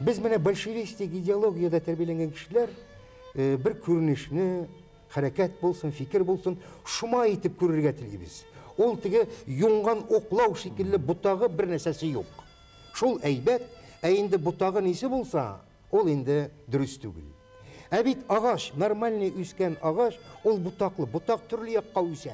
Без менә большевистик идеологиядә тәрбияләнгән кешеләр э, бер күренешне, хәрәкәт булсын, фикер булсын, шома итеп күрергә телибез. Ул теге юңган оклау шикелле бутагы бер нәрсәсе юк. Шул әйбәт, ә инде бутагы нисе булса, ул инде дөрес түгел. Ә бит агач, нормальный үскән агач, ул бутаклы, бутак төрле якка үсә.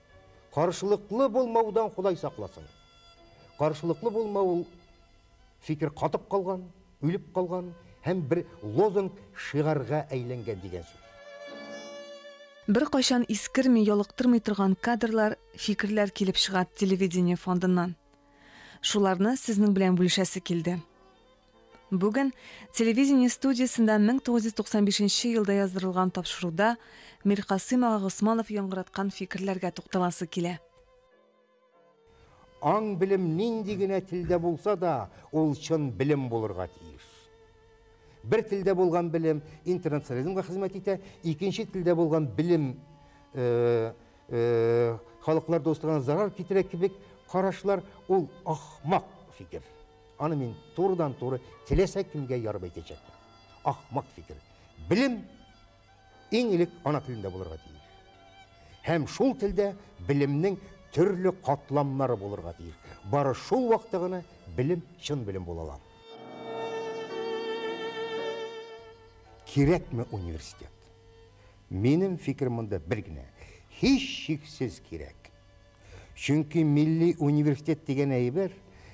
Каршылыклы булмаудан Ходай сакласын. Каршылыклы булмау ул фикер катып калган, үлеп калган һәм бер лозунг, шигарга әйләнгән дигән сүз. Беркайчан искерми, ялыктырмый торган кадрлар, фикерләр килеп чыга телевидение фондыннан. Шуларны сезнең белән бүлешәсе килде. Бүген телевидение студиясендә 1995 елда яздырылган тапшыруда Миркасыйм ага Госманов яңгыраткан фикерләргә тукталасы килә. Аң-белем нинди генә телдә булса да, ул чын белем булырга тиеш. Бер телдә булган белем интернационализмга хезмәт итә, икенче телдә булган белем халыклар дуслыгына зарар китерә кебек карашлар, ул ахмак фикер. Аны мин турыдан-туры теләсә кемгә ярып әйтәчәкмен. Ахмак фикер. Белем иң элек ана телендә булырга тиеш. Һәм шул телдә белемнең төрле катламнары булырга тиеш. Бары шул вакытта гына белем чын белем була ала. Кирәкме университет? Минем фикерем монда бер генә. Һич шиксез кирәк. Чөнки милли университет дигән әйбер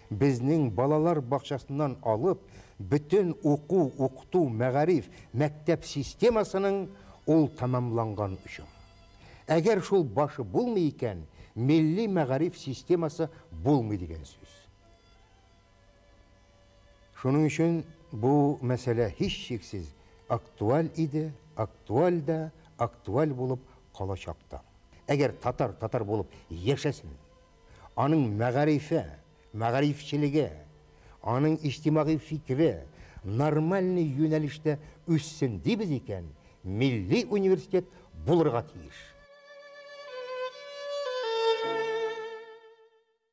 безнең балалар бакчасыннан алып бөтен уку, укыту, мәгариф, мәктәп системасының ул тәмамланган очым. Әгәр шул башы булмый икән, милли мәгариф системасы булмый дигән сүз. Шуның өчен бу мәсьәлә һичшиксез актуаль иде, актуаль да, актуаль булып калачак та. Әгәр татар татар булып яшәсен, аның мәгарифе, мәгарифчелеге, аның иҗтимагый фикере нормальный юнәлештә үссен дибез икән, милли университет булырга тиеш.